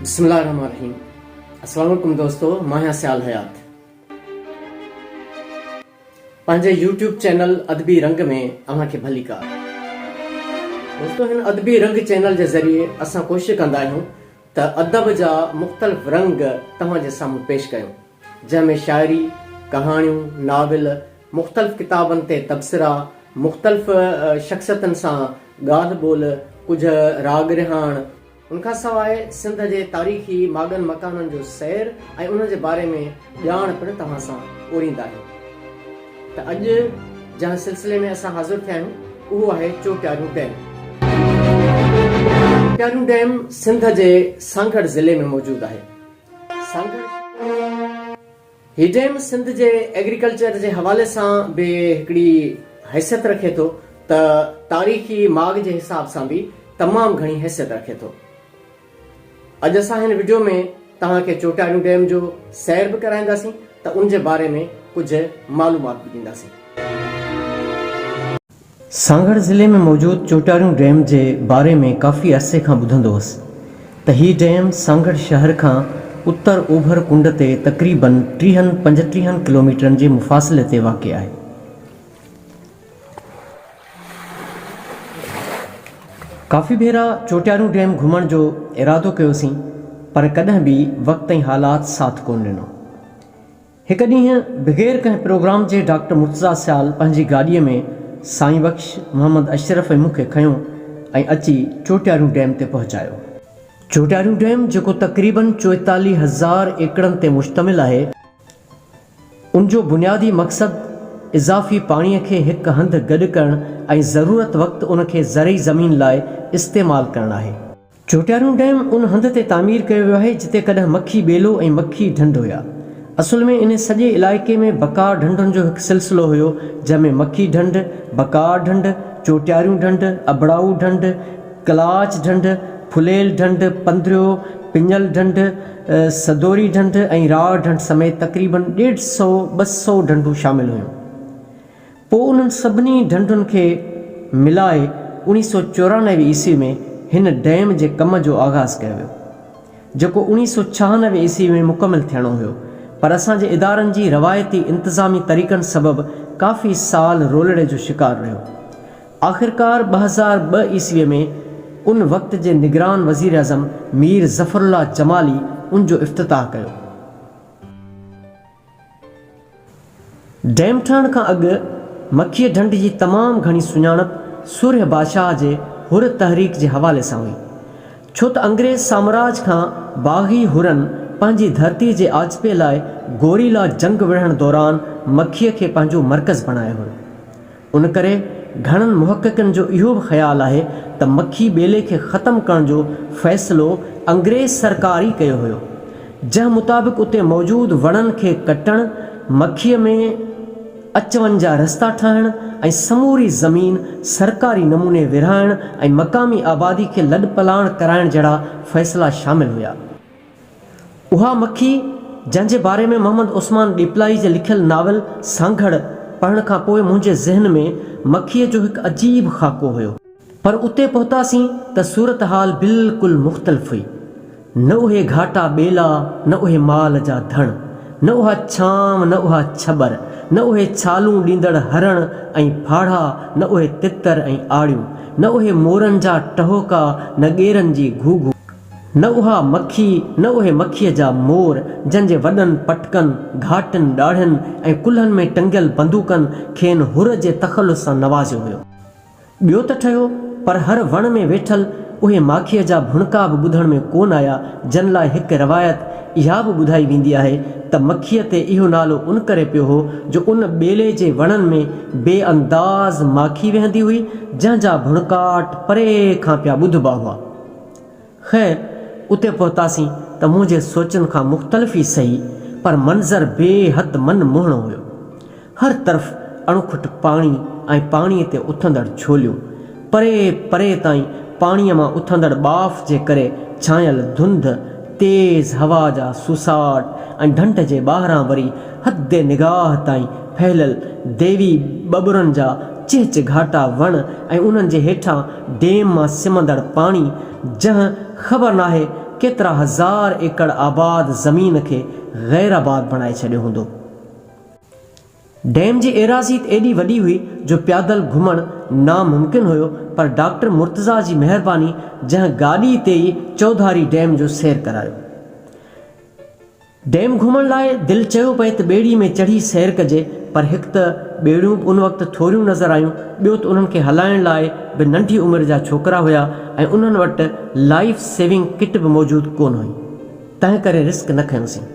بسم الله الرحمن الرحيم اسلام عليڪم دوستو مان آهيان سيال حيات پنهنجي يوٽيوب چينل ادبي رنگ ۾ اوهان کي ڀلي ڪار دوستو هن ادبي رنگ چينل جي ذريعي اسان ڪوشش ڪندا آهيون ته ادب جا مختلف رنگ توهان جي سامهون پيش ڪيم، جنهن ۾ شاعري، ڪهاڻيون، ناول، مختلف ڪتابن تي تبصرا، مختلف شخصيتن سان ڳالهه ٻولهه، ڪجهه راڳ رهاڻ، ان کان سواء سنڌ جي تاريخي ماڳن مڪانن جو سير ۽ انهن جي باري ۾ ڄاڻ پڻ توهان سان اورينداهيون ته اڄ جنهن سلسلي ۾ اسان حاضر ٿيا آهيون اهو آهي چوٽيارو ڊيم. چوٽيارو ڊيم سنڌ جي سانگهڙ ضلعي ۾ موجود آهي. سانگهڙ هي ڊيم سنڌ جي ايگريڪلچر جي حوالي سان به هڪڙي حيثيت رکي ٿو ته تاريخي ماڳ جي حساب سان به تمام گهڻي حيثيت رکي ٿو. اڄ اسان هن وڊيو ۾ توهان کي چوٽياريون ڊيم جو سير به ڪرائينداسين ته ان جي باري ۾ ڪجهه معلومات به ڏينداسين. سانگهڙ ضلعي ۾ موجود چوٽياريون ڊيم جي باري ۾ ڪافي عرصي کان ٻڌندو هوس ته هي ڊيم سانگهڙ شهر کان اتر اوڀر ڪنڊ تي تقريبن ٽيهن پنجٽيهن ڪلوميٽرن جي مفاصلي تي واقع آهي. ڪافي ڀيرا چوٽيارو ڊيم گهمڻ جو ارادو ڪيوسين پر ڪڏهن به وقت ۽ حالات ساٿ ڪون ڏنو. هڪ ڏينهن بغير ڪنهن پروگرام جي ڊاڪٽر مرتضيٰ سيال پنهنجي گاڏيء ۾ سائين بخش، محمد اشرف ۽ مون کي کنيو ۽ اچي چوٽيارو ڊيم تي پهچايو. چوٽيارو ڊيم جيڪو تقريبن چوئيتاليهه هزار ايڪڙن تي مشتمل آهي، ان جو بنيادي مقصد اضافي پاڻي کي هڪ هنڌ گڏ ڪرڻ ۽ ضرورت وقت ان کي زرعي زمين لاء استعمال ڪرڻ آهي. جوٽيارو ڊيم ان هنڌ تي تعمير ڪيو ويو آهي جتي ڪڏهن مکي ٻيلو ۽ مکي ڍنڍ هيا. اصل ۾ ان سڄي علائقي ۾ بکار ڍنڍن جو هڪ سلسلو هيو جنهن ۾ مکي ڍنڍ، بکار ڍنڍ، جوٽياريون ڍنڍ، ابڙائو ڍنڍ، ڪلاچ ڍنڍ، ڦليل ڍنڍ، پنڌريو، پڃل ڍنڍ، سدوري ڍنڍ ۽ راء ڍنڍ سميت تقريبن ڏيڍ سئو ٻه سئو ڍنڍون شامل هيون. پوء انهن سڀني ڍنڍن کي ملائي اڻيهه سئو چورانوي عيسوي ۾ هن ڊيم جي ڪم جو آغاز ڪيو ويو، جيڪو اڻيهه سئو ڇهانوي عيسوي ۾ مڪمل ٿيڻو هيو پر اسان جي ادارن جي روايتي انتظامي طريقن سبب ڪافي سال رولڙي جو شڪار رهيو. آخرڪار ٻه هزار ٻه عيسويء ۾ ان وقت جي نگران وزيراعظم مير ظفر الله جمالي ان جو افتتاح ڪيو. ڊيم ٺهڻ کان اڳ مکيه ڍنڍ جي تمام گهڻي سڃاڻپ سورهيه بادشاهه جي حر تحريڪ جي حوالي سان هئي، ڇو ته انگريز سامراج کان باغي حرن پنهنجي ڌرتي جي آجپي لاء گوريلا جنگ وڙهڻ دوران مکيه کي پنهنجو مرڪز بڻايو هيو. ان ڪري گهڻن محققن جو اهو به خيال آهي ته مکي ٻيلي کي ختم ڪرڻ جو فيصلو انگريز سرڪار ئي ڪيو هيو، جنهن مطابق اتي موجود وڻن کي ڪٽڻ، مکيء ۾ اچ وڃ جا رستا ٺاهڻ ۽ سموري زمين سرڪاري نموني ورهائڻ ۽ مقامي آبادي کي لڏپلاڻ ڪرائڻ جهڙا فيصلا شامل هيا. اها مکي، جنهن جي باري ۾ محمد عثمان ڏيپلائي جي لکيل ناول سانگهڙ پڙهڻ کان پوء منهنجي ذهن ۾ مکيء جو هڪ عجيب خاڪو هيو. پر اتي پهتاسين ته صورتحال بلڪل مختلف هئي. نه اهي گهاٽا ٻيلا، نه اهي مال جا ڌڻ، نه اها ڇانو، نه اها ڇٻر، نه اهي ڇالون ڏيندڙ هرڻ ۽ ڦاڙها، نه اهي تتر ۽ آڙيون، نه اهي مورن جا ٽهوڪا، نه ڳيرن جي گهوگهو. نه اها مکي، نه اهي مکيء جا مور، جن جي وڏن پٽڪن، گهاٽن، ڏاڙهين ۽ ڪلهن ۾ ٽنگيل بندوقن کين حر جي تخلص سان نوازيو هيو. ٻيو ته ٺهيو، پر هر وڻ ۾ ويٺل اهي ماکيء جا ڀڻڪا به ٻڌڻ ۾ ڪونه آيا، جن لاء هڪ روايت اها به ٻڌائي ويندي آهي ته مکيء تي اهو نالو ان ڪري پيو هو، جو ان ٻيلي جي وڻن ۾ بي انداز ماکي ويهندي هئي، جنهن جا ڀڻڪاٽ پري کان پيا ٻڌبا هئا. خير اتي پهتاسين ته منهنجي سوچن کان مختلف ئي سهي پر منظر بي حد من موهڻو هيو. هر طرف اڻکٽ پاڻي ۽ پاڻي تي اٿندڙ ڇوليون. پري پري تائين پاڻي مان اٿندڙ ٻاڦ جي ڪري ڇانيل ڌنڌ تيز هوا جا سوساٽ ۽ ڍنڍ جي ٻاهران وري حد نگاهه تائين ڦهليل ديوي ٻٻرن جا چهچ گهاٽا وڻ ۽ انهن جي هيٺان ڊيم مان سمندڙ پاڻي جنهن خبر ناهي ڪيترا هزار ايڪڙ آباد زمين کي غيرآباد بڻائي ڇڏيو هوندو. ڊيم جي ايراضي ايڏي وڏي هئي جو پيادل گهمڻ ناممڪن هيو پر ڊاڪٽر مرتضيٰ جي مهرباني جنهن گاڏي تي ئي چوڌاري ڊيم جو سير ڪرايو. ڊيم گهمڻ لاء دل چيو پئي ته ٻيڙي ۾ چڙهي سير ڪجي پر هڪ ته ٻيڙيون به ان وقت ٿوريون نظر آيون ٻيو ته انهن کي هلائڻ لاء به ننڍي عمر جا ڇوڪرا هيا ۽ انهن وٽ لائيف سيونگ ڪٽ به موجود ڪونه هئي تنهنڪري رسڪ نه کنيوسين.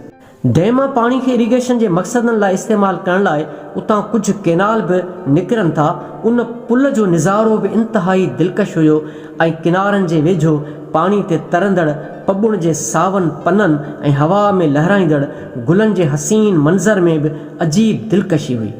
ڊيم مان پاڻي کي اريگيشن جي مقصدن لاء استعمال ڪرڻ لاء اتان ڪجهه ڪينال به نڪرن ٿا، ان پل جو نظارو به انتهائي دلڪش هيو ۽ ڪنارن جي ويجهو پاڻي تي ترندڙ پٻڻ جي ساون پنن ۽ هوا ۾ لهرائيندڙ گلن جي حسين منظر ۾ به عجيب دلڪشي هئي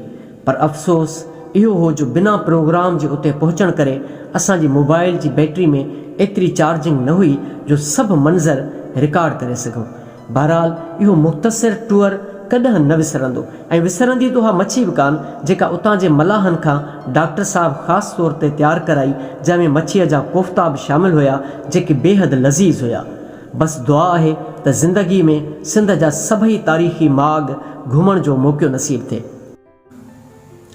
پر افسوس اهو هو جو بنا پروگرام جي اتي پهچڻ ڪري اسان جي موبائيل جي بيٽري ۾ ايتري چارجنگ نه هئي جو سڀ منظر رڪارڊ ڪري سگهون. بهرحال اهو مختصر ٽوئر ڪڏهن نه وسرندو ۽ وسرندي ته اها مڇي به ڪانه جيڪا اتان جي ملاحن کان ڊاڪٽر صاحب خاص طور تي تيار ڪرائي جنهن ۾ مڇيء جا ڪوفتا به شامل هيا جيڪي بيحد لذيذ هيا بس دعا آهي ته زندگي ۾ سنڌ جا سڀئي تاريخي ماڳ گهمڻ جو موقعو نصيب ٿئي.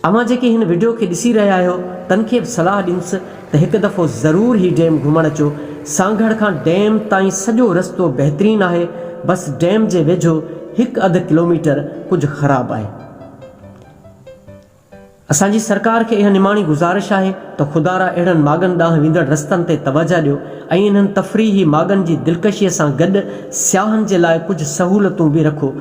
اوهان جيڪي هن وڊيو کي ڏسي رهيا آهيو تن کي به صلاح ڏينس ته هڪ دفعو ضرور هي ڊيم گهمڻ اچو سانگهڙ کان ڊيم تائين سڄو رستو بهترين آهي بس ڊيم جي ويجهو هڪ اڌ ڪلوميٽر ڪجهه خراب آهي اسان جي سرڪار کي اها نماڻي گذارش آهي ته خدارا اهڙن ماڳن ڏانهن ويندڙ رستن تي توجهه ڏيو ۽ انهن تفريحي ماڳن جي دلڪشي سان گڏ سياحن جي لاء ڪجهه سهولتون به رکو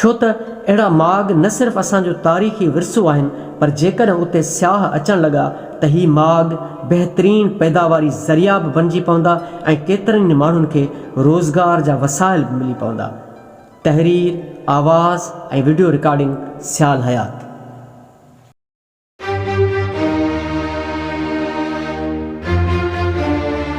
ڇو ته اهڙا ماڳ نه صرف اسان جو تاريخي ورثو آهن پر جيڪڏهن اتي سياح اچڻ لڳا ته هي ماڳ بهترين پيداواري ذريعا به بڻجي پوندا ۽ ڪيترن ئي ماڻهن کي روزگار جا وسائل به ملي پوندا. تحرير، آواز ۽ وڊيو رڪارڊنگ سيال حيات.